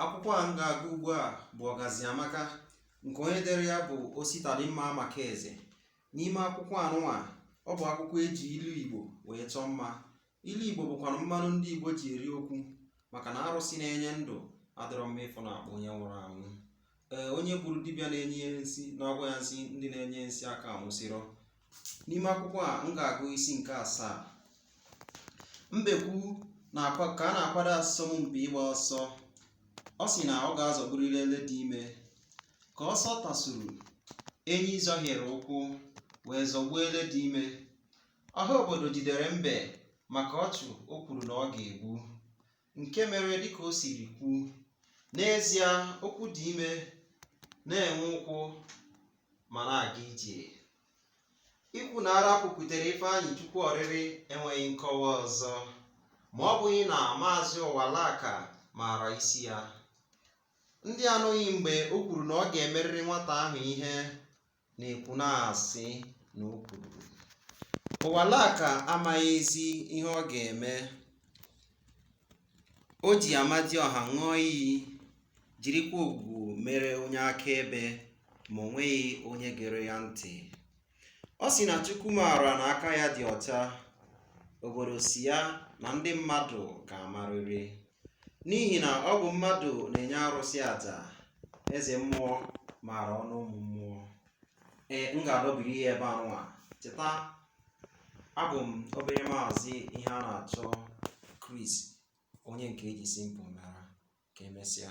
akwụkwọ a m ga-agụ ugbu a bụ ọgazị amaka nke onye dere ya bụ ositadimma amakeze n'ime akwụkwọ anụnwa ọ bụ akwụkwọ eji ilu igbo wee chọọ mma ilu igbo bụkwanụ mmanụ ndị igbo ji eri okwu maka na arụsị na-enye ndụ adọrọ mma ịfụ na akpụ onye nwụrụ anwụ ee onye gburu dibịa na-enye ya nsi na-agwọ ya nsi ndị na-enye nsi aka anwụsịrọ n'ime akwụkwọ a m ga-agụ isi nke asaa mbekwu na-akwa ka a na-akwado asọmpi ịgba ọsọ ọ sị na ọ ga-azọgburịrị ele dị ime ka ọsọ tasuru enyi zọhiere ụkwụ wee zọgbuo ele dị ime ọha obodo jidere mbe maka ọchụ o kwuru na ọ ga-egbu nke mere dịka o siri kwuo n'ezie okwu dị ime na-enwe ụkwụ ma na-aga ije ikwu na ara kwupụtara ifeanyịchukwu ọrịrị enweghị nkọwa ọzọ ma ọ bụghị na maazị ụwalaka maara isi ya ndị anụghị mgbe o kwuru na ọ ga-emerịrị nwata ahụ ihe na-ekwu na-asị na o kwuru ụwalaka amaghịzi ihe ọ ga-eme o ji amadiọha ṅụọ iyi jirikwa ogwu mere onye akaebe ma o nweghị onye gere ya ntị ọ sị na chukwu maara na aka ya dị ọcha obodo sị ya na ndị mmadụ ga-amarịrị n'ihi na ọ bụ mmadụ na-enye arụsị aja eze mmụọ maara ọnụ ụmụ mmụọ ee m ga-adọbiri ya ebe anụnwa cheta abụ m obere maazị iheanachọ Chris onye nke eji simple mara ka emesịa